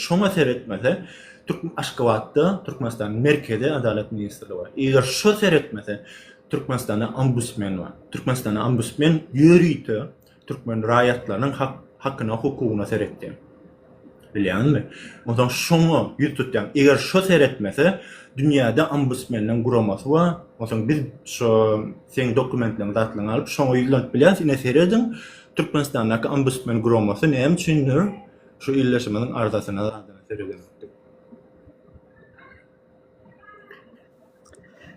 Şoňa seretmese, türkmen Aşgabatda Türkmenistanyň Merkezi Adalat ministrligi bar. Eger şo seretmese, Türkmenistanda Ombudsmen bar. Türkmenistanda Ombudsmen ýörite türkmen raýatlarynyň hakyna, hukugyna seretýär. Bilýäňizmi? Onsoň şoňa ýüz tutýan. Eger şo seretmese, dünýäde Ombudsmenleň guramasy bar. Onsoň biz şo seň dokumentleriň zatlaryňy alyp, şoňa ýüzlenip bilýäris. Ine serediň, Türkmenistandaky Ombudsmen guramasy näme üçindir? Şu illeşimiziň arzasyna zadana seredemokdym.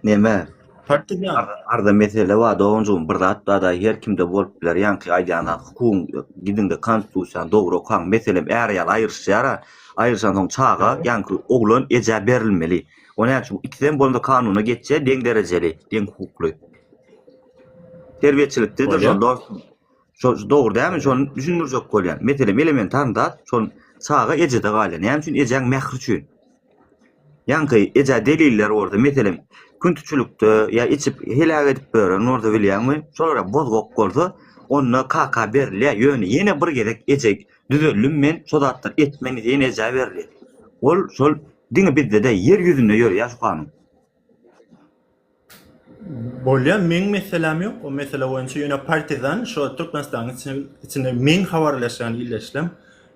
Neme? Partizan. Arda mesele bar doganjygym bir zat bada her kimde bolup biler ýaňky aýdýan zat hukugyň gidiňde konstitusiýany dogry okaň meselem är ýaly aýryşýar a aýryşan soň çaga ýaňky oglan ejä berilmeli o näme üçin ikisem bolanda kanuna geçýär deň derejeli deň hukukly terbiýeçilikdedir şol dostum. Şo dogry dämi? Şony düşündirjek bolýan. Meselem, elementarny zat, şol çaga ejede galýar. Näme üçin? Ejäň mähri üçin. Ýaňky ejä deliller bolsa, meselem, kün tüçülikde ýa içip heläk edip beren bolsa bilýäňmi? Şolara bozgak bolsa, onda kaka berilýär. Ýöne ýene bir gezek eje düzeldim men, şo zatlar etmen diýen ejä berilýär. Ol şol diňe bizde-de ýer ýüzünde ýörýär şu kanun. Bolýar, meň meseläm ýok. O mesele boýunça ýöne partizan şo Türkmenistanyň içinde meň habarlaşýan illeşlem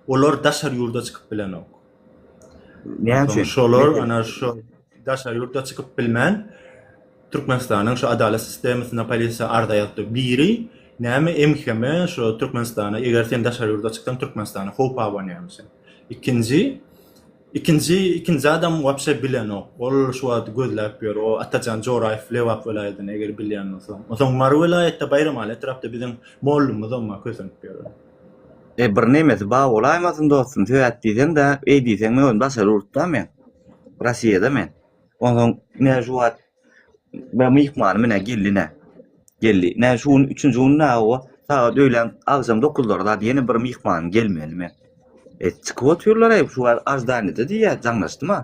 olar daşary ýurda çykyp bilenok. Näme üçin? Şolar ana şo daşary ýurda çykyp bilmän Türkmenistanyň şo adalat sistemasyna polisiýa arza ýazdy. Biri näme MHM şo Türkmenistana eger sen daşary ýurda çyksaň Türkmenistana howp abanýarmyş. Ikinji Ikinji ikinji adam wapşe bilenok. Ol şu wagt gözläp ýör. O Atajan Joraýew Lebap welaýatyny eger bilýän bolsa. Onsoň Mary welaýatda Baýramaly etrapda biziň mollumyzam bar kösenip ýören. E bir nemesi bar bolaýmasyn dostum sebäp diýseň-de eý diýseň men özüm daşary ýurtda men Rossiýada men. Onsoň näme şu wagt Bä myhmany menä geldi nä. Geldi. Nä şu gün üçünji gün nä owa. Sagat öýlän agşam dokuzlara zat ýene bir myhman gelmeli men. E, çykyp otyrlar eý şu aždaniýede diýýär jaňlaşdyma.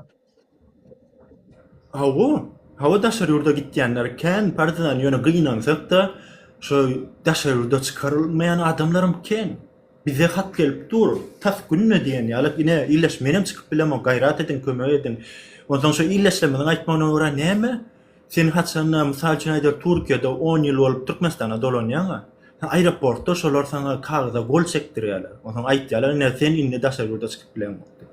Hawa, hawa daşary ýurda gitýänler kän partizan ýöne gynansak-da, şo daşary ýurda çykarylmaýan adamlaram kän. Bize hat gelip dur, tas günde diýen ýaly, ine, ildeş, menem çykyp bilemok, gaýrat ediň, kömek ediň. Onsoň şu ildeşlerimiziň aýtmagyna görä näme? Sen haçan-da, mysal üçin aýdaly, Türkiýede on ýyl bolup Türkmenistana dolanýaň-a, aeroportda şolar saňa kagyza gol çekdirýärler. Onsoň aýdýarlar, ine, sen indi daşary ýurda çykyp bileňok diýip.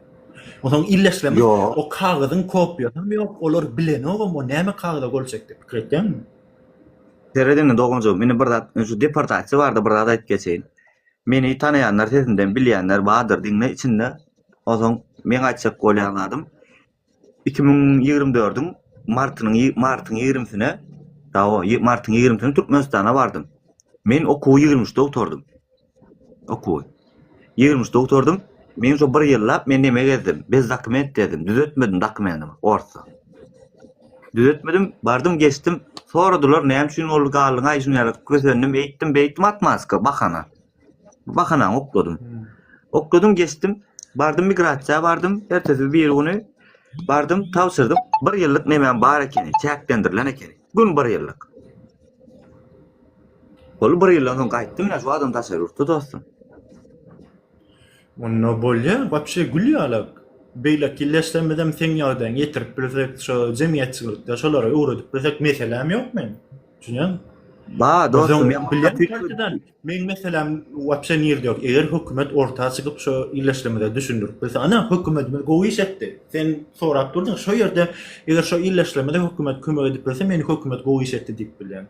Onsoň ildeşlerimiz o kagyzyň kopiýasam ýok, olar bilenogam, o näme kagyza gol çekdi, pikir etýäňmi? Sered indi doganjygym, indi bir zat, şu deportasiýa barada bir zat aýdyp geçeýin. Meni tanaýanlar sesinden bilýänler bardyr diňle içinde ozon meň aýtjak bolýan zadym iki müň ýigrimi dördüň martynyň martyň ýigrimisine dawa martyň ýigrimisine türkmenistana bardym men okuwy ýigrimi üçde gutardym okuwy ýigrimi üçde gutardym Men şu bir ýyllap men neme gezdim? Bez dokument dedim, düzetmedim dokumenimi, orsa. Düzetmedim, bardym geçdim, soradylar näme üçin ol galdyňaý şun ýaly kösendim, eýtdim, beýtdim atmaska, bahana. Bahanany okladym. Okladym geçdim, bardym migrasiýa bardym, ertesi bir güni bardym tabşyrdym, bir ýyllyk nemem bar ekeni, çäklendirilen ekeni. Gün bir ýyllyk. Ol bir ýyldan soň gaýtdym, şu adam daşary ýurtda dostum. Onda bolýa wapşe gül ýalak. Beýleki ýyl ýaşsamyzam seň ýagdaýyňy ýetirip bilsek, şo jemgyýetçilikde şolara öwredip bilsek meseläm ýok meň. Düşünýäňmi? Ba, dostum, men başga tüýs. Meň meseläm wapşe nirede ýok. Eger hökümet orta çykyp şo ýyl ýaşsamyza düşündirip bilse. Ana, hökümetimiz gowy iş etdi. Sen sorap durdyň, şo ýerde eger şo ýyl ýaşsamyza hökümet kömek edip bilse, men hökümet gowy iş etdi diýip bilýän.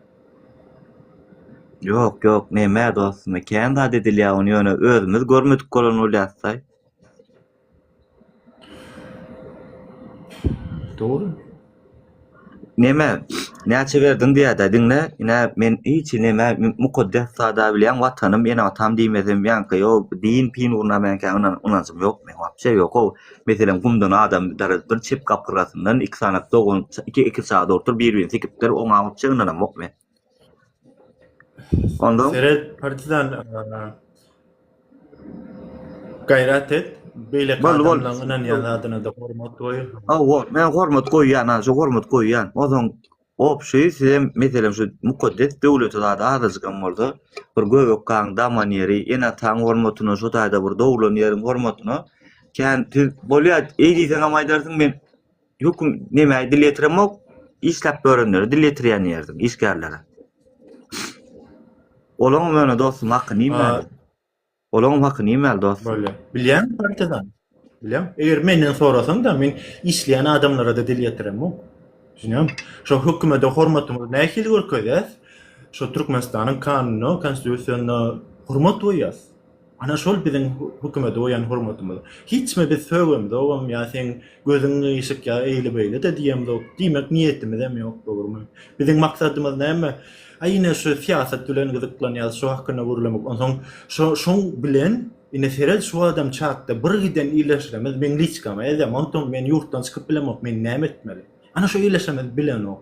Ýok, ýok, näme dostum, kän zat edilýär, ony ýöne özümiz görmedik bolan bolýarys-aý. Dogry. Näme, näçe berdiň diýýär-dä, diňle, ine, men hiç hili näme, mukaddes zat-a bilýän, Watanym, ene-atam diýmesem, ýaňky, ýok, din-pin ugruna meňkä ynanjym ýok meň, wapşe ýok-ow. Meselem, gumdan adam daradypdyr, çep gapyrgasyndan iki sany dogan iki iki çaga dogrudypdyr, bir-birini sikipdir, oňa gitjek ynanamok men. Ondan Seret partizan gaýrat et. Beýle adamlaryň ynanýan zadyna-da hormat goý. Hawa, men hormat goýýan, şu hormat goýýan. Ozan Obşy sizem meselem şu mukaddes döwleti zat azajykam bolsa bir göbek gaň daman ýeri ene ataň hormatyna şu taýda bir doglan ýeriň hormatyna kän siz bolýa eý diýseňem aýdarsyň men höküm nemäý dil ýetiremok işläp görenlere dil ýetirýän ýerdim işgärlere olaňam ýöne dostum hakyny iýmän Olaryň haky nimäli dost? Bolýar. Bilýäňmi partizan? Bilýäň. Eger menden sorasaň-da, men işleýän adamlara-da dil ýetiremok. Düşünýäňmi? Şo hökümete hormatymyzy nähili görkezýäs? Şo Türkmenistanyň kanunyna, konstitusiýasyna hormat goýýas. Ana şol biziň hökümete goýan hormatymyz. Hiç kime biz sögemzogam ýa seň gözüň gyýşyk ýa eýle-beýle-de diýemzok. Diýmek niýetimizem ýok, dogrumy? Biziň maksadymyz näme? Aý ine şu syýasat bilen gyzyklanýas şu hakynda gürlemek onsoň şo şoň bilen ine seret şu adam çatda bir giden illeşremiz meň liçkama ýazýa magtym men ýurtdan çykyp bilemok men näme etmeli ana şu illeşremiz bilenok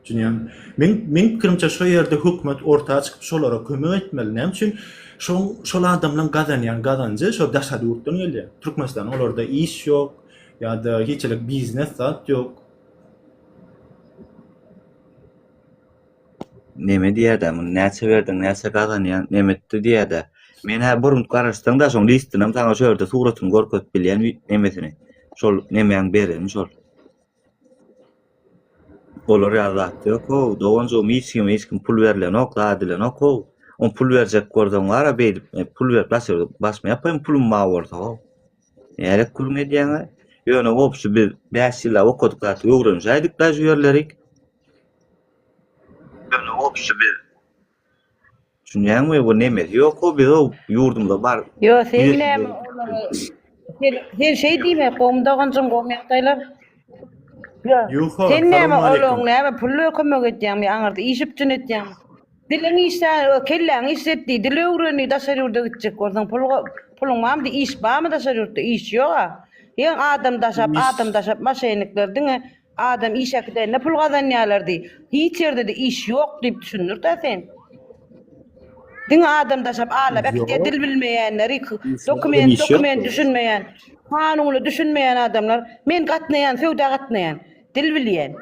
Düşünýäňmi? Meň meň pikirimçe şo ýerde hökümet orta çykyp şolara kömek etmeli. Näme üçin? Şoň şol adamlaň gazanýan gazanjy şo daşary ýurtdan gelýär. Türkmenistan olarda iş ýok ýa-da hiç elek biznes zat ýok. Neme diýýädä, muny näçe berdiň, näçe gazanýaň, nemetdi diýýädä. Men-ä burun garaşsaň-da, şoň listynam saňa şu ýerde suratyny görkezip bilýän wi nemesini. Şol nemäň bereni şol. Olar ýaly zat ýok-ow, doganjygym, hiç kime hiç kim pul berlenok, zat edilenok-ow. Oň pul berjek görseň bar-a beýdip, men pul berip başyr başymy ýapaýyn pulum bar bolsa-ow. Nälet gürrüň edýäň-ä. Ýöne obşi biz bäş ýyllap okadyk zat öwrenişäýdik-dä şu ýerlerik. Ýöne wobşe biz Düşünýäňmi bu nemes ýok o biz o ýurdumyza bar. Ýo sen näme olary sen sen şeý diýme gowmy doganjyň gowmy ýagdaýlar. Ýo Ýuho sen näme Salam aleýkum. olaň näme pulla kömek edýäňmi aňyrda iş üpjün etýäňmi. Diliň işlä o kelläňi işlet diý dil öwren diý daşary ýurda gitjek bolsaň pul go puluň barmy diý iş barmy daşary ýurtda iş ýoga. Ýeň adam daşap Iş. adam daşap maşennikler diňe Adam iş äkidende pul gazanýarlar diý. Hiç ýerde-de iş ýok diýip düşündir-dä sen. Diňe adam daşap alap äkidýär Ýok. dil bilmeýänleri, k- Işsiz adam dokument, iş dokument ýokdur. düşünmeýän, kanuna düşünmeýän adamlar. Men gatnaýan, söwda gatnaýan. Dil bilýän.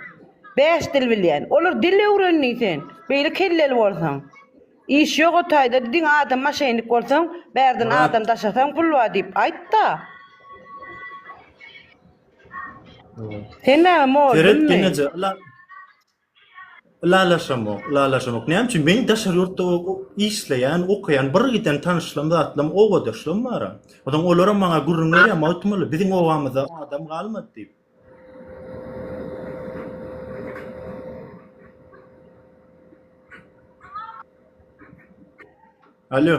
Bäş dil bilýän. Olar dil öwrendiň sen. Beýle kelleli bolsaň. Iş ýok o taýda diňe adam maşennik bolsaň, bärden Murat. adam daşasaň pul bar diýip aýt-da. Sen näme mol Seret bilmi? geňeje ila ilalaşamok, ilalaşamok. Näme üçin men daşary ýurtda o- o işleýän, okaýan, bir giden tanyşlarym, zatlarym, obadaşlarym bar. Ondan olaram maňa gürrüň berýär, Magtymguly biziň obamyzda adam galmady diýip. Alýo.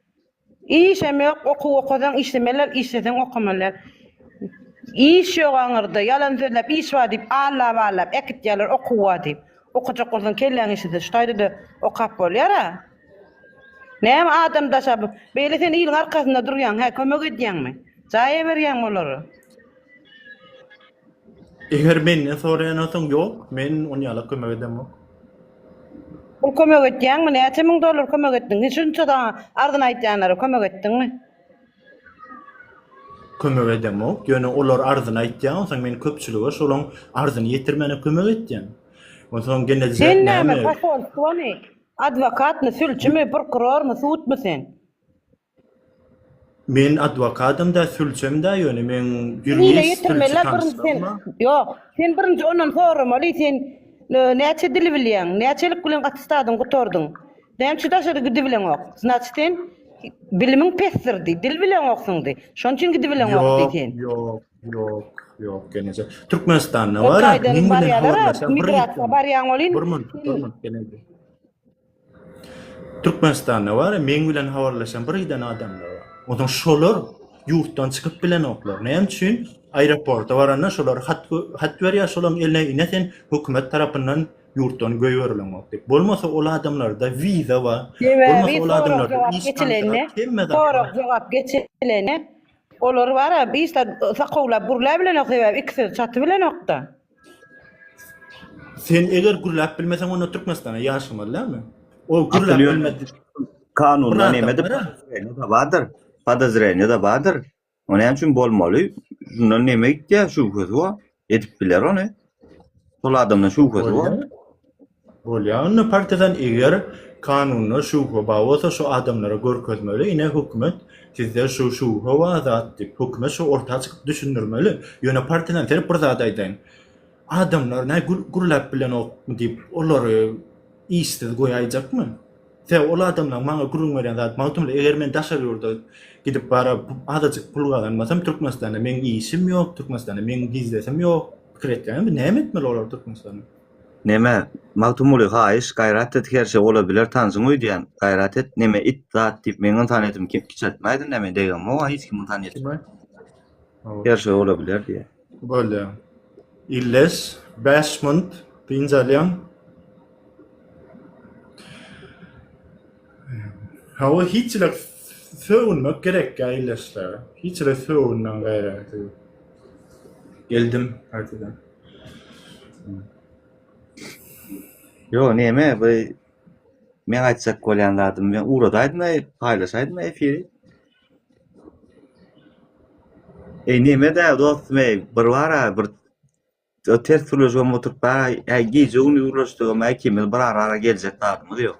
Işem ýok, okuw okasaň işlemeler, işleseň okamalar. Iş ýok aňyrda, ýalan sözläp iş bar diýip allaballap äkitýärler okuw bar diýip. Okajak bolsaň kelläň işlese şu taýda-da okap bolýar-a. Näme adam daşa bu, beýle sen iliň arkasynda durýaň hä, kömek edýäňmi? Jaý eberýäňmi olary? Eger menden soraýan bolsaň ýok, men on ýala kömek edemok. Pul kömek etýäňmi? Näçe müň dollar kömek etdiň? Hiç şunça saňa arzyny aýtýanlara kömek etdiňmi? Kömek edemok, ýöne olar arzyny aýtýar, onsoň men köpçülige şolaň arzyny ýetirmäne kömek etýän. Onsoň genelde näme? Sen näme, posolstwomy, adwokatmy, sülçimi, prokurormy, sudmy sen? Men adwokadam-da, sülçem-de, ýöne meň ýurist, sülçi tanyşlygym-a. Ýok, sen birinji ondan soramaly, sen näçe dil bilýäň, näçelik bilen atestadyňy gutardyň, nämüçin daşary gidibileňok, znaçyt, sen bilimiň pesdir diý, dil bileňoksyň diý, şonuň üçin gidibileňok diý sen. Ýok, ýok, ýok, gelneje, Türkmenistanda bar-a, meň bilen habarlaşýan, bir minut, bir minut, gelneje. Türkmenistanda bar ya meň bilen habarlaşan bir giden adamlar bar. Onsoň şolar ýurtdan çykyp bilenoklar. Näme üçin? Aeroporta baranda şolar hat hat berýär, şolaryň eline ine sen hökümet tarapyndan ýurtdan göýberileňok diýip. Bolmasa ol adamlarda wiza bar. Bolmasa ol adamlarda iş Sorag jogap geçilende olar bar ya işden sakawlap gürläp bilenok sebäbi ikisini çaty bilenokda. Sen eger gürläp bilmeseň onda Türkmenistana ýaşamaly dälmi? Ol gürläp bilmedi. Kanunda nemedir? Näme bardyr? Podozreniýe de bardyr. O näme üçin bolmaly? Şundan näme gitýär? Şübhesi bar. Edip biler ony. Şol adamdan şübhesi bar. Bolýa onda partiýadan eger kanunda şubha bar bolsa şu adamlara görkezmeli ine hökümet sizde şu şubha bar zat diýip hökümet şu orta çykyp düşündirmeli ýöne partiýadan seredip bir zat aýdaýyn adamlar näme gül gürläp bilenokmy diýip olary işsiz goýaýjakmy sebäp ol adamlaň maňa gürrüň berýän zat Magtymguly eger men daşary ýurda gidip bara azajyk pul gazanmasam Türkmenistanda meň işim ýok Türkmenistanda meň biznesim ýok pikir etýäňizmi näme etmeli olar Türkmenistanda. Neme, Magtymguly, haýyş, gaýrat et, her şey ola biler, tanşyňy öýdýän, gaýrat et, neme, it, zat diýip, meň ynsanyýetimi kiçeltmäýdin, neme, degem-ow, hiç kim ynsanyýet, Kim aýtdy? Hawa. her şey ola biler diýýär. Bolýar. Illes, bäş munt dynç alýaň. Hawa, hiç-le sögünmek gerekkä illesle, hiç-le sögünden gaýraty ýok. Geldim, gaýtadan. Ýo neme bu men aýtjak bolýan zadym men ugradaýdym aý paýlaşaýdym efiri. Eý neme dä dostum eý bir bara bir ters sürleşip oturyp aý gije gündüz gürleşdik aý ikimiz bir ara geljek zadymyz ýok.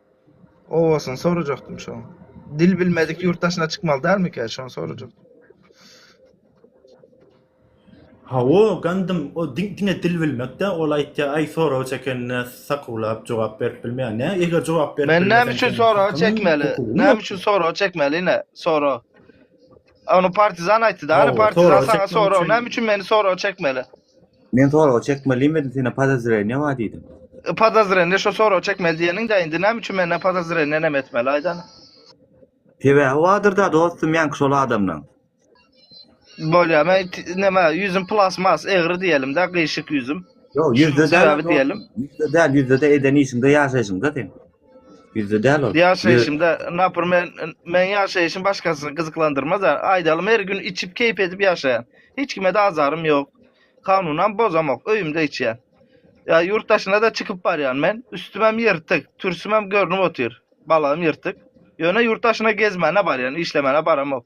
Owasyny sorajakdym şoň. Dil bilmedik ýurt daşyna çykmaly dälmikä şony sorajak. Hawa gandym o diňe dil bilmek dä ol aýtýa aý soragy çekenine sakuwlap jogap berip bilmeýä nä eger jogap berip bilmeseň. Men näme üçin soragy çekmeli näme üçin soragy çekmeli ine sora ony partizan aýtdy da ony partizan saňa soragy näme üçin meni soragy çekmeli. Men sorag çekmeliyim edin sene podozreniýa bar diýdim. E, Podozreniýa şo sorag çekmeli diýeniň-de indi näme üçin menden podozreniýa näme etmeli aýdan. Sebäbi bardyr-da dostum ýaňky şol adamlaň. Bolýar. Men t- näme ýüzüm plasmas egri diýelim-de, gyşyk ýüzüm. Ýok, ýüzde Şunuň däl. sebebi diýelim. Ýüzde däl, ýüzde-de eden işiňde, ýaşaýşyňda sen. Bizde däl ol. Ýaşaýşymda, naprimr, meň ýaşaýşym başgasyny gyzyklandyrmaz-a. Aýdalym, her gün içip, keýp edip ýaşaýan. Hiç kime-de azarym ýok. Kanunam bozamok, öýümde içýän. Ýa ýurt daşyna-da çykyp barýan men. Üstümem ýyrtyk, türsümem görnüp otyr. Balagym ýyrtyk. Ýöne ýurt daşyna gezmäne barýan, işlemäne baramok.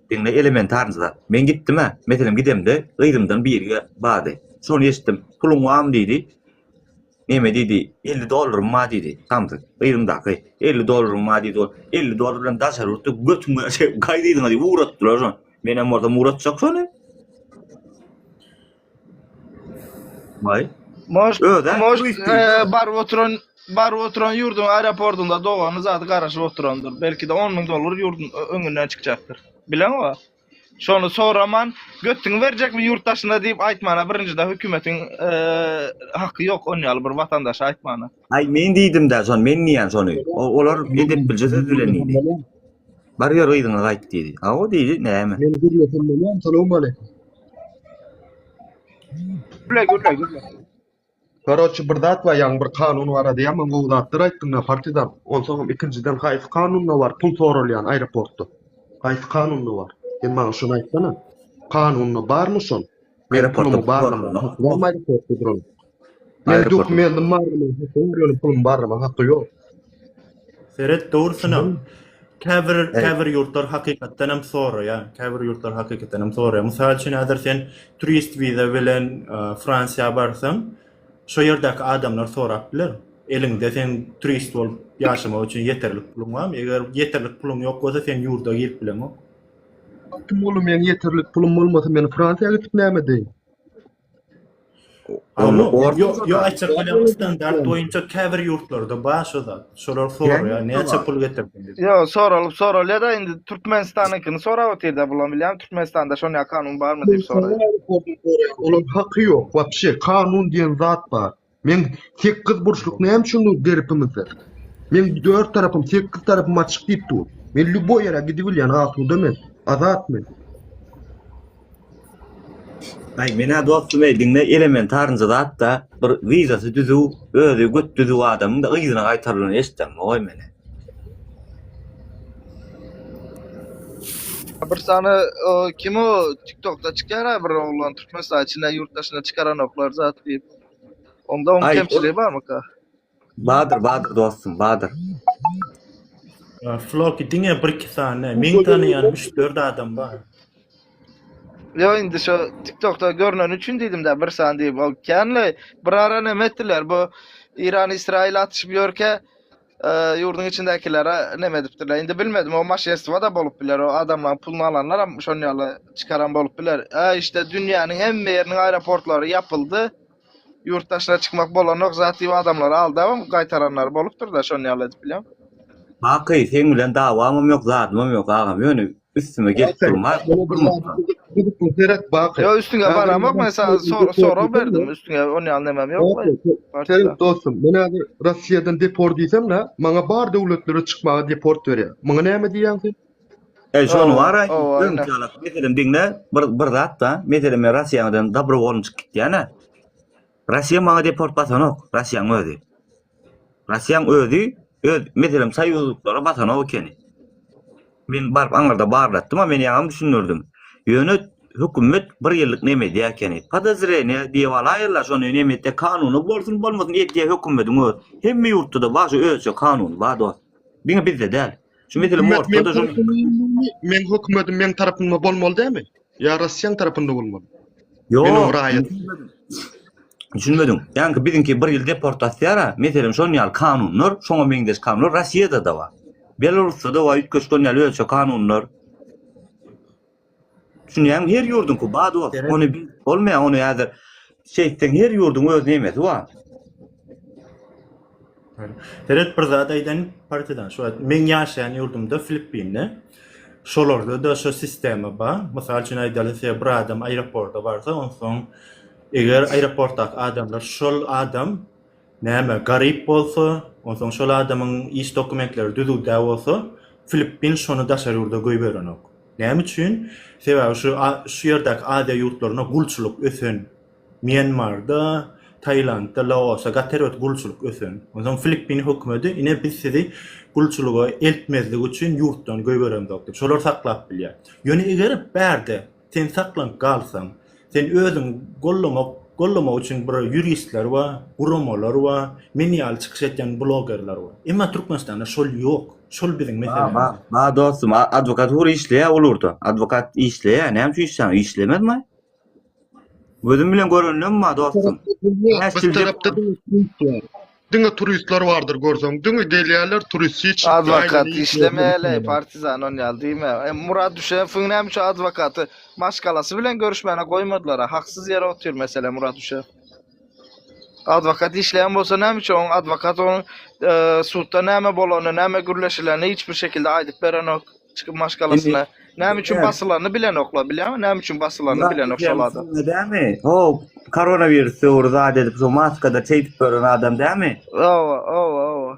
Diňle elementarny zat. Men gitdim-ä, meselem gidemde, gyzymdan biri bardy. Şony eşitdim. Puluň barmy diýdi. Neme diýdi? Elli dollarym bar diýdi. Samsyk. Gyzymdaky. Elli dollaryň bar diýdi ol. Elli dollar bilen daşary ýurtda götüň bilen şeý gaýdydyňa diýip ugratdylar şony. Menem bolsam ugratjak şony. May. Moş, Öde, moş, bu itti. e, baryp oturan, baryp oturan yurdun aeroportunda dogany zady garaşyp oturandyr. Belki de 10 ming dolar yurdun ö- öňünden çykjakdyr. Bilen o. Şony soraman, götüňi berjekmi yurt daşyna diýip aýtmana birinjide hükümetiň e, haky ýok on ýaly bir watandaşa aýtmana. Ay men diýdim de şony, men diýen şony. O- Olar edep bilje söz bilen diýdi. Bar ýör yzyňa gaýt diýdi. A o diýdi, näme? Men gürlesin bilen salam aleyküm. Gürle gürle gürle. Garoçi bir zat bar ýaňy bir kanun barada ýaman gowy zatlar aýtdyň da partizan. Onsoňam ikinjiden haýsy kanunda bar pul soralýan aeroportda. Haýsy kanunda bar? Sen maňa şony aýtsana. Kanunda barmy şol? Aeroportda barlama bolmaýdy köpde duran. Men dokumentim barlama hakda ýöne pulum barlama hakda ýok. Seret dogrusyna. Käbir käbir ýurtlar hakykatdan hem soraýar. Käbir ýurtlar hakykatdan hem soraýar. Mysal üçin häzir sen turist wiza bilen Fransiýa barsaň, şo ýerdäki adamlar sorap biler. Eliňde sen turist bolup ýaşamak üçin ýeterlik puluň barmy? Eger ýeterlik puluň ýok bolsa sen ýurda girip bileňok. Magtymguly meň ýeterlik pulum bolmasa men Fransiýa gitip näme edeýin. Ony orta Ýok aýtjak bolýan standart boýunça käbir ýurtlarda bar şo zat. Şolar soraýar näçe pul getirdiň diýip. Ýok soralyp soralýada indi Türkmenistanyňkyny sorap otyrda bulam bilýän Türkmenistanda şonýa kanun barmy diýip soraýar. Olar haky ýok wapşe kanun diýen zat bar. Meň sekiz burçluk näme üçin dur derpimizde? Meň dört tarapym, sekiz tarapym açyk diýip dur. Men lýuboý ýere gidibilýän, asuda men, azat men. Aý, men-ä dostum eý, diňle, elementarnja zat-da, bir wizasy düzüw, özi göt düzüw adamyň-da yzyna gaýtarylany eşitdäňmi, goý meni. Bir sany o kim o tiktokda çykýar-a bir oglan türkmenistan içinde ýurt daşyna çykaranoklar zat diýip. Onda oň Ay, kemçiligi barmyka? Badyr, Badyr dostum, Badyr. Ee, Floki diňe bir iki sany. Men tanıyan 3-4 adam var. Yo indi şu TikTokda görünen üçin dedim de bir san deyip o känle bir ara neme ettiler bu İran İsrail atışıp yörke Ýurduň içindäkilere neme edipdirler. Indi bilmedim, o maşenstwo-da bolup biler. O adamlaryň puluny alanlaram şon ýaly çykaran bolup biler. Ä, işte, dünýäniň hemme ýeriniň aeroportlary ýapyldy. Ýurt daşyna çykmak bolanok, zat diýip adamlary aldabam gaýtaranlary bolupdyr-da, şon ýaly edip bilýän. Baky, seň bilen dawamam ýok, zadymam ýok, agam. Ýöne Üstüme gelip durma. Gidip seret bak. Yo üstüňe baramok men sana sor sorag berdim üstüňe on ýaly nemem ýok. Senin dostum men häzir Russiýadan deport diýsem da maňa bar döwletlere çykmaga deport berýär. Muňa näme diýýäň sen? E şony wara öň çalak meselem diňle bir bir zat da meselem men Russiýadan dobrowolny çykyp gitýän-ä. Rossiýa maňa deport basanok, Rossiýaň özi. Rossiýaň özi öz meselem soýuzlyklara basanok ekeni. Men baryp aňyrda barlatdym, a men ýaňam düşündirdim. Ýöne hökümet bir ýyllyk neme edýär ekeni? Podozreniýa diýip alaýarlar, şony neme etýär? Kanuny bolsun, bolmasyn edýär hökümetiň özi. Hemme ýurtda-da bar şu özçe kanun, bar dost. Diňe bizde däl. Şu mesele ortada şu. Men hökümetin men tarapynda bolmaly dämi? Ýa Russiýanyň tarapynda bolmaly? Ýok, raýat. Düşünmedim. Ýa-da biziňki bir ýyl deportasiýa, meselem şonuň ýaly kanunlar, şoňa meňzeş kanunlar Russiýada da bar. Belarusda da bar, üýtgeşik ýaly ölçe kanunlar. Düşünýäňmi? Her ýurduňky bad bol. Ony bolmaýar, ony häzir şeýtseň her ýurduň öz nemesi bar. Seret bir zat aýdaýyn partiýadan. Şu wagt meň ýaşaýan ýurdumda Filippinde şolarda-da şu sistema bar. Mysal üçin aýdaly size bir adam aeroporta barsa onsoň eger aeroportdaky adamlar şol adam Näme, garyp bolsa, onsoň şol adamyň iş dokumentleri düzüw-dä bolsa, Filippin şony daşary ýurda goýberenok. Näme üçin? Sebäbi şu şu ýerdäki Aziýa ýurtlarynda gulçulyk ösen. Mýanmarda, Taýlandda, Laosa gaty erbet gulçulyk ösen. Onsoň Filippin hökümeti ine biz sizi gulçulyga eltmezlik üçin ýurtdan goýberenok diýip, şolar saklap bilýär. Ýöne eger bärde Sen saklanyp galsaň, sen özüňi gollamak gollamak üçin bir ýuristler bar, guramalar bar, men ýaly çykyş etýän blogerler bar. Emma Türkmenistanda şol ýok. Şol biziň meselemiz. Bar, bar dostum, adwokatura işleýär olurda. Adwokat işleýär, näme üçin işleýär? Işlemezmi? Gözüm bilen görenlem bar dostum. Bäş ýyl dep. Diňe turistler bardyr görseň diňe gelýärler turist hiç. Adwokat işlemäli partizan on ýaly diýme. Murad Düşewiň näme üçin adwokaty maşgalasy bilen görüşmäne goýmadylar a haksyz ýere otyr mesele Murad Düşew. Adwokat işleýän bolsa näme üçin oň adwokat oň sudda näme bolany näme gürleşileni hiç bir şekilde aýdyp berenok. Çykyp maşgalasyna. Näme üçin basylanyny bilenoklar, bilýäňmi? Näme üçin basylanyny bilenok şol adam. Näme? O koronawirus döwri zat edip şu maskada çeýdip gören adam dämi? Owa, owa, owa.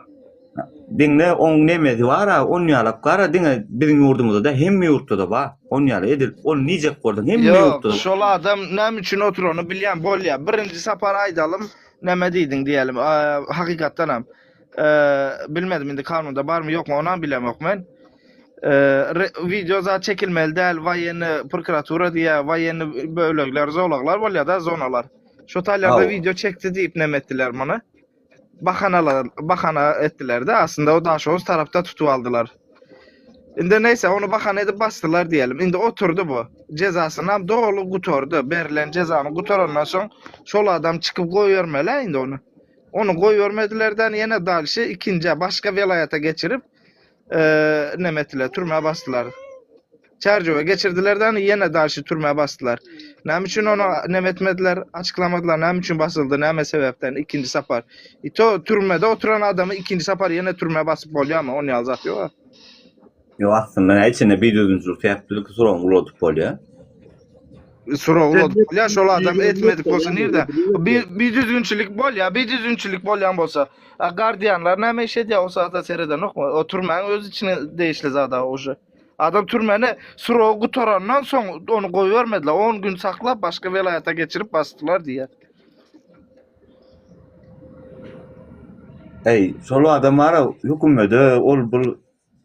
Diňle oň nemesi bar, on ýalak gara diňe biziň ýurdumyzda da hem ýurtda da bar. On ýaly edil, on nijek bolsa hem ýurtda. Ýok, şol adam näme üçin oturany bilýän bolýa. Birinji sapar aýdalyň, näme diýdiň diýelim. Hakykatdan hem. Eee bilmedim indi kanunda barmy ýokmy onam bilemok men. Eee wideo zat çekilmeli däl waýenni prokuratura diýä waýenni bölekler zolaglar bolýar da zonalar. Şu taýlarda Hawa. wideo çekdi diýip näme etdiler muny? Bahanalar bahana etdiler de aslynda o daşoguz tarapda tutup aldylar. Indi näýse onu bahana edip basdylar diýelim. Indi oturdy bu. Jezasyny hem doly gutardy. Berlen jezany gutarandan soň şol adam çykyp goýbermeli indi onu. Ony goýbermediler-de, ýene dalşy ikinjä, başga welaýata geçirip, neme etdiler, türmä basdylar. Çärjewe geçirdiler-de, ýene dalşy türmä basdylar. Näme üçin ony neme etmediler, açyklamadylar, näme üçin basyldy, näme sebäpden ikinji sapar? I to türmede oturan adamy ikinji sapar ýene türmä basyp bolýarmy? Ony ýaly zat ýok-a. Ýok aslynda näçe içinde bir düzümçilik sebäpli ilki suragyňy uladyp bolýar. Suragy uladyp bolýar şol adam etmedik bolsa nirde? Bir bir düzgünçilik bolýar, bir düzgünçilik bolýan bolsa. A gardianlar näme iş edýär o saatda seredenokmy? O türmäň öz içine degişli zada uje. Adam türmäne suragy gutarandan soň ony goýbermediler. 10 gün saklap başga welaýata geçirip basdylar diýýär. Eý, şol adam bara hökümede ol bul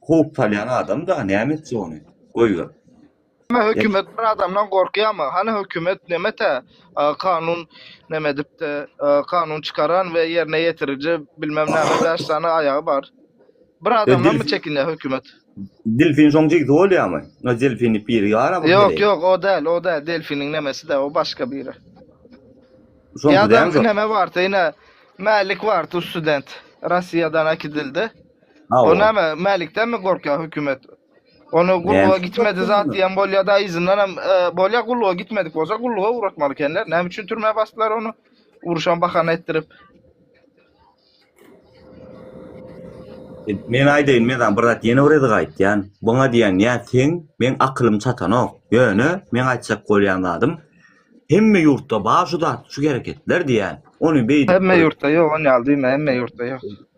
Kowup salýan adam da näme etjek ony. Goýber. Näme hökümet bir adamdan gorkýamy? Hany hökümet näme tä kanun näme edipdi, kanun çykaran we ýerine ýetiriji bilmem näme bäş sany aýagy bar. Bir adamdanmy çekinýä hökümet. Delfin şoň jigsi bolýamy? Ýa delfini piri ýara bu. Ýok ýok o däl o däl delfiniň nemesi dä o başga biri. Ýa da näme barty ine Mälik barty student Rossiýadan äkidildi. O Hawa. näme, Mälikdenmi gorkýar hökümet? Ony gulluga Näme? gitmedi zat diýen bolýar-da, yzyndan hem e, bolýar gulluga gitmedik bolsa gulluga ugratmaly ekenler. Näme üçin türmä basdylar ony? Uruşan bahana etdirip. E, Men aýdaýyn, men sana bir zat ýene bir ýerde aýtýan. Buňa diýen ýa sen, meň akylym çatanok. Ýöne men aýtjak bolýan zadym, hemme ýurtda bar şu zat, şu hereketler diýen. Ony beýdip Hemme ýurtda ýok, on ýaly diýme, hemme ýurtda ýok.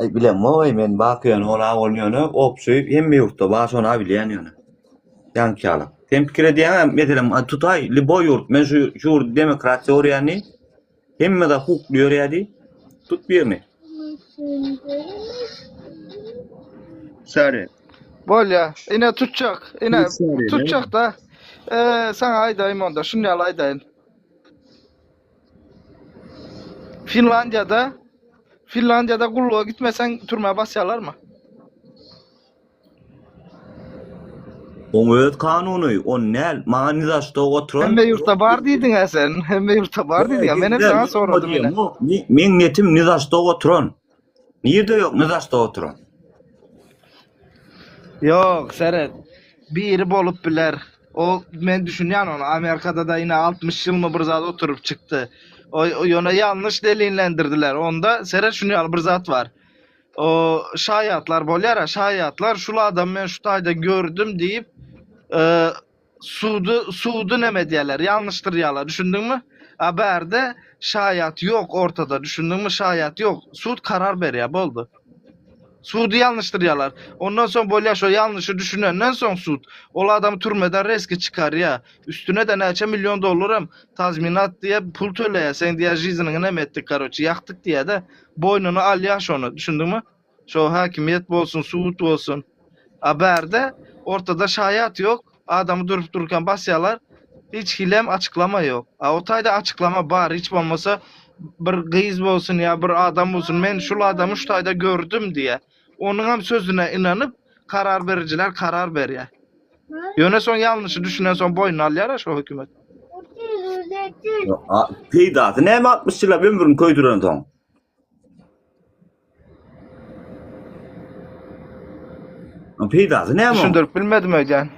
Aý bilemok-aý men baky ýöne ol awul ýöne obşy hemme ýurtda bar şony abilýän ýöne. Ýaňky ýaly. Sen pikir edýäňä meselem a, tutaý liboý ýurt men şu şu ýurdy demokratiýa görýän diý. Hemme zat hukukly ýörýär diý. Tut birini. Sary. Bolýa. Ine tutjak. Ine Hiç ýaryna. tutjak-da. Eee, saňa aýdaýyn onda, şuny ýaly aýdaýyn. Finlandiýada Finlandiýada gulluga gitmeseň türmä basýarlarmy? Oň öz kanuny, on näl, maňa nizaşto oturan. Hemme ýurtda bar diýdiňä sen, hemme ýurtda bar diýdiňä, menem saňa soradym ine. Meň netim nizaşto oturan. Nirde yok ne daşda oturan. Yok seret. Biri bolup biler. O men düşünýän ony Amerikada da ine 60 ýyl mı bir zat oturyp çykdy. O ýöne ýalnyş delinlendirdiler. Onda seret şuny ýaly bir zat bar. O şaýatlar bolýar, şaýatlar şul adam men şu taýda gördüm diýip, e, Sudy sudy neme edýärler ýalňyşdyrýarlar düşündiňmi a bärde şaýat ýok ortada düşündiňmi şaýat ýok sud karar berýär boldy sudy ýalňyşdyrýarlar ondan soň bolýar şo ýalňyşy düşünenden soň sud ol adamy türmeden reski çykarýar üstüne de näçe million dollar hem tazminat diýip pul töleýär seň diýär žiziniňi neme etdik karoçi ýakdyk diýär de boýnuna alýar şony düşündiňmi Şo häkimiýet bolsun, sud bolsun. A bärde ortada şaýat ýok, adamy durup durkan basýalar, hiç hilem açyklama ýok. A o taýda açyklama bar, hiç bolmasa bir gyz bolsun ýa bir adam bolsun, men şul adamy şu taýda gördüm diýä. Onuňam sözüne ynanyp, karar berijiler karar berýä. Ýöne soň ýalnyşy düşünen soň boýnuna alýar-a şo hökümet. Peýdasy näme altmyş ýyllap ömrüni köýdürensoň? Peýdasy näme? Düşündirip bilmedim öýdýän.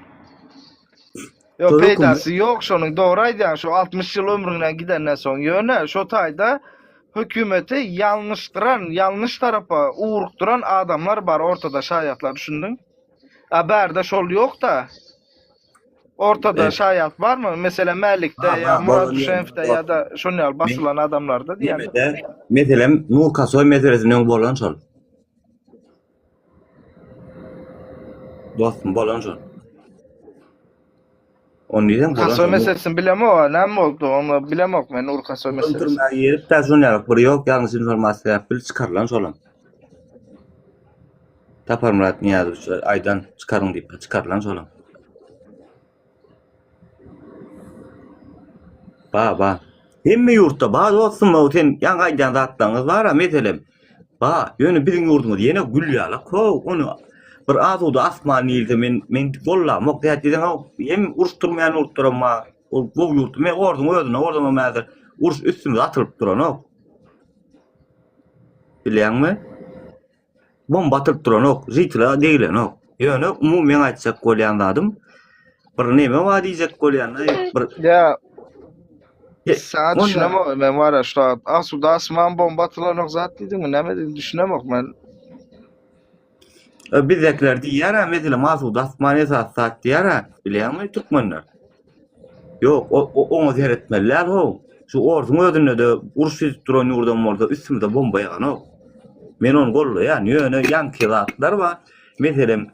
Ýok, peýdasy ýok şonuň. Dogry aýdýaň, şu 60 ýyl ömrüňden gidenden soň. Ýöne şu taýda hökümeti ýalňyşdyran, ýalňyş tarapa ugrukdyran adamlar bar ortada şaýatlar, düşündiň? A bärde şol ýok-da. Ortada şaýat barmy? Meselem, Mälikde Ha, bar, ýa Murat bolany- Düşenowda bor. ýa-da şonuň ýaly basylan adamlarda diýýän. Ýemede, meselem, Nur Kasoý meselesinde öň bolan şol. Dostum, bolan şol. Onu diýsem, bolan Kasoý şol. meselesini bilemok, a, näme boldy? Onu bilemok men Nur Kasoý Ondan meselesini. türmä girip, täşun ýalyk bir ýok, ýalňyş informasiýa ýap bilip çykarylan şolam. Saparmyrat Nyýazowiç aýdan çykaryň diýipdir, çykarylan şolam. Ba, ba. Hemme ýurtda ba dostum, o sen ýaňky aýdýan zatlaryňyz bar-a meselem. Ba, ýöne biziň ýurdumyz ýene gül ýalak how, ony bir asuda asman diýilse men men gollamok zat diýseňow, hem uruş turmaýan ýurtlaram bar. Ol gowy ýurt, me orduň özünde ordanam häzir uruş üstümize atylyp duranok. Bilýäňmi? Bomba atylyp duranok, žitila degilenok. Ýöne umumy meň aýtjak bolýan zadym bir neme bar diýjek bolýan, bir Ýa. Saat düşünemok men wara şu wagt. Asuda asman bomba atylanok zat diýdiňmi? Näme diýdiň? Düşünemok men. Bizdekiler diýýär, meselem asuda asman esas zat diýýär, bilýärmi türkmenler? Ýok, o, oňa seretmeli däl-how. Şu orsuň özünde-de uruş düzüp duran ýurdam bolsa, üstümize bomba ýaganok. Men ony goldaýan, ýöne ýaňky zatlar bar. Meselem,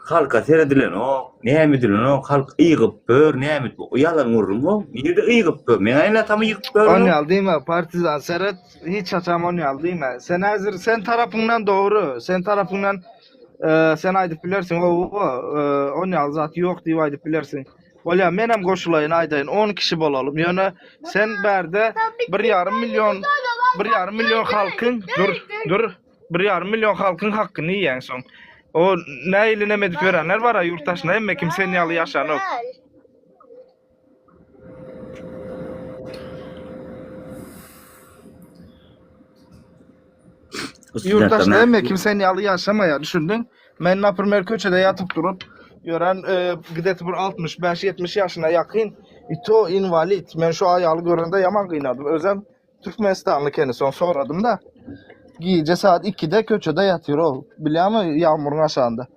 halka seredilenok, näme edilenok, halk ygyp bör, näme edip bör. Ýalan gürrüň-how. Nirede ygyp bör? Meň aýnatammy ýykyp bör? Ony al diýme, partizan seret, hiç haçan ony al diýme. Sen häzir, sen tarapyňdan dogry, sen tarapyňdan. Eee, sen aýdyp bilersiň, oba, eee, on ýaly zat ýok diýip aýdyp bilersiň. Bolýar, men hem goşulaýyn, aýdaýyn, 10 kişi bolalym. Ýöne sen bärde 1,5 million, 1,5 million halkyň, dur, dur, 1,5 million halkyň hakkyny iýýäň soň. O nähili neme edip ýörenler bar-a ýurtdaşyna, hemme kim sen ýaly ýaşanok. Ýurtdaş näme kim sen ýaly ýaşamaýar düşündiň? Men naprimmer köçede ýatyp durup ýören gideti bir 65-70 ýaşyna ýakyn i to inwalid. Men şu aýaly görende ýaman gynadym. Özem türkmenistanly ekeni soň soradym-da. Gije saat 2-de köçede ýatyr ol. Bilýäňmi ýagmyryň aşagynda.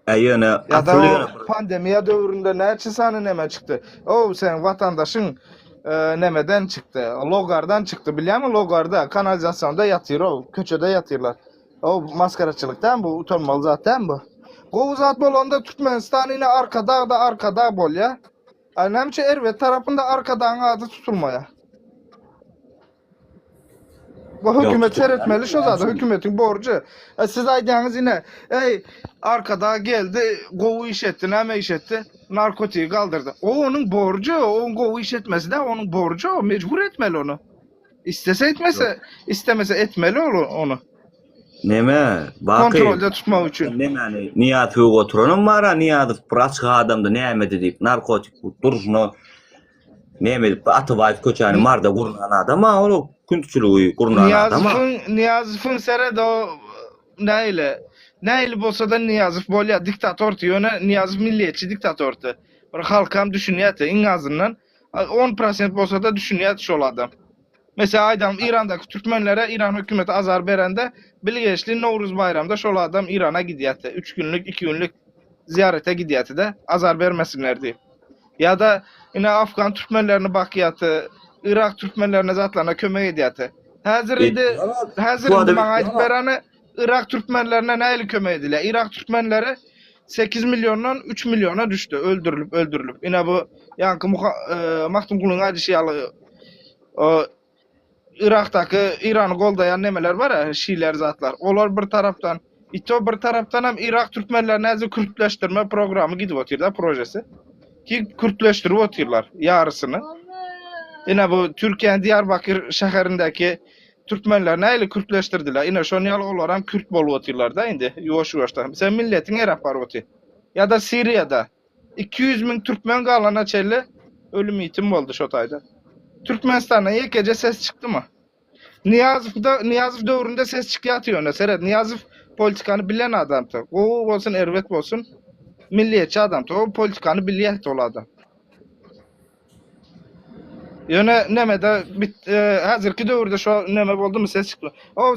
He ýöne Ýa-da asyl o ýöne bir pandemiýa döwründe näçe sany neme çykdy? O seň watandaşyň e, nemeden çykdy, logardan çykdy. Bilýärmi logarda, kanalizasionda ýatyr o, köçede ýatyrlar. O maskaraçylyk däl bu, utanmaly zat däl bu. Gowy zat bolanda Türkmenistan ine Arkadagda Arkadag bolýar. A näme üçin Erbet tarapynda Arkadagyň ady tutulmaýar? Bu hökümet seretmeli şu zada, hökümetiň borjy. E, siz aýdýaňyz ine, eý, arkada geldi, gowy iş etdi, näme iş etdi? Narkotigi galdyrdy. O onuň borjy, oň gowy iş etmesi de onuň borjy, o mejbur etmeli ony. Istese etmese, istemese etmeli ol ony. Neme? Baky. Kontrolda tutmak üçin. Nemeni? Niýaz hög oturanam bar, Niýazow bir açyk adamdy, nämedi diýip, narkotik durşuna Näme edip bu Atabaýew köçäni marda gurnan adam a ol küntçüligi gurnan adam a. Nyýazowyň Nyýazowyň seret o nähili nähili bolsada Nyýazow bolýa diktatordy ýöne Nyýazow milliýetçi diktatordy bir halkam düşünýädi iň azyndan on prosent bolsada düşünýädi şol adam. Meselem aýdalyň Irandaky türkmenlere Iran hökümeti azar berende bilgeşli Nowruz baýramda şol adam Irana gidýärdi. Üç günlük, iki günlük zyýarete gidýärdi-de, azar bermesinler diýip. Ýa-da ine afgan türkmenlerini bakýardy, yrak türkmenlerine zatlaryna kömek edýärdi. Häzir indi, häzir indi maňa aýdyp bereni, Yrak türkmenlerine nähili kömek edilýär? Yrak türkmenleri 8 milliondan 3 milliona düşdi, öldürilip, öldürilip. Ine bu ýaňky Muha, e, Magtymgulyň aýdyşy ýaly o Yrakdaky Irany goldaýan nemeler bar, a, şiler zatlar. Olar bir tarapdan, i to bir tarapdan hem Yrak türkmenlerine äze kürtleşdirme programy gidip otyr da, projesi. Ki kürtleşdirip otyrlar ýarysyny. Ine bu Türkiýäniň Diyarbakir şäherindäki Türkmenler näli kürtleşdirdiler? Ine şon ýaly olaram kürt bolup otyrlarda indi ýuwaş ýuwaşdan. Sen milletiň erap baryp otyr. Ýada siriýada iki ýüz müň türkmen galana çenli ölüm ýitim boldy şo taýda. Türkmenistandan ýekeje ses çykdymy? Nyýazowda Nyýazow döwründe ses çykýardy ýöne seret Nyýazow politikany bilen adamdy. Gowy bolsun erbet bolsun milliýetçi adamdy. O politikany bilýärdi ol adam. Ýöne nemede bit e, häzirki döwürde şo neme boldumy ses çykma. O